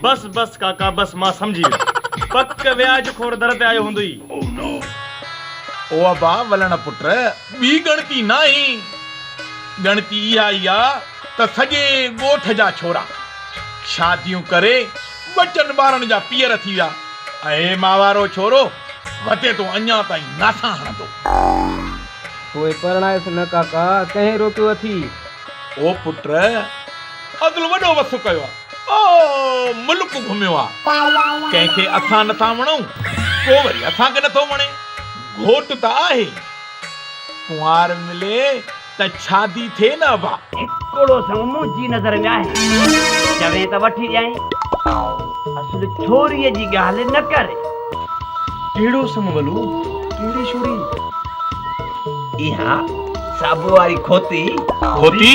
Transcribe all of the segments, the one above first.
بس بس ڪاڪا بس مان سمجهي ويم پڪ وياج خور در تي آيو هوندئي. او ابا ولڻ پٽ ٻي ڳڻتي ناهي ڳڻتي اها ئي آ ته سڄي ڳوٺ جا ڇورا شاديون ڪري ٻچن ٻارن جا پيئر ٿي ويا ۽ هي ماهوارو ڇورو وتي تو اڃا تائين ناسا هڻندو. پوء پرڻائيس نه ڪاڪا ڪنهن روڪيو اٿئي. او پٽ اڳل وڏو وسو ڪيو آ او ملڪ گهميو آ، ڪنهن کي اٿان نٿا وڻون، ڪو وري اٿان کي نٿو وڻي، گهوٽ ته آهي، ڪنوار ملي ته شادي ٿئي نه ابا. هڪڙو سڱ منهنجي نظر ۾ آهي، چوين ته وٺي ڏيائين، اصل ڇوريء جي ڳالهه نه ڪري. ڪهڙو سڱ ولو، ڪهڙي ڇوري؟ اها صابو واري کوتي. کوتي؟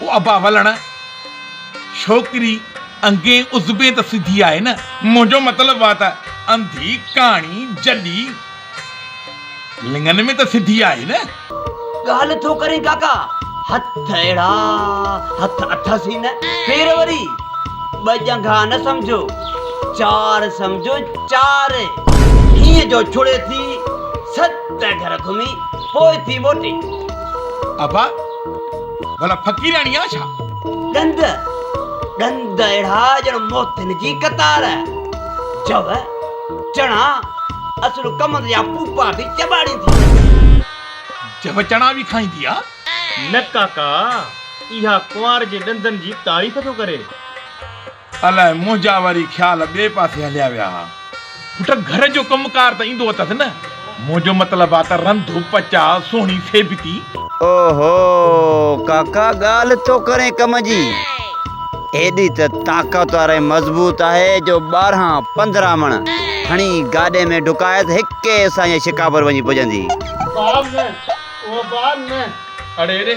او ابا ولڻ، ڇوڪري انگين عضبين ته سڌي آهي نه؟ منهنجو مطلب اها ته انڌي، ڪاڻي، جڏي، لڱن ۾ ته سڌي آهي نه؟ ڳالهه ٿو ڪرين ڪاڪا، هٿ اهڙا هٿ اٿس ئي نه، پير وري ٻه ڄنگها نه سمجهو، چار سمجهو چار، هينئن جو ڇڙي ٿي ست گهر گهمي پوء ٿي موٽي. ابا! ڀلا فقيراڻي آ ڇا؟ ڏند ڏند اهڙا ڄڻ موتين جي قطار. جو، چڻا، اصل ڪمند جا پوپا به چٻاڙيندي آ. جو چڻا به کائيندي آ؟ نه ڪاڪا، اها ڪنوار جي ڏندن جي تعريف ٿو ڪري. الاء منهنجا وري خيال ٻئي پاسي هليا ويا ها. پٽ گهر جو ڪم ڪار ته ايندو اٿس نه. منهنجو مطلب آ ته رنڌ، پچاء، سهڻي سيبتي. او هو ڪاڪا ڳالهه ٿو ڪرين ڪم جي. ايڏي ته طاقتور ۽ مضبوط آهي جو ٻارهن پندرهن مڻ کڻي گاڏي ۾ ڍڪائي ته هڪي سانجهي شڪاپور وڃي پڄندي. باب نه، او باب نه. اڙي اڙي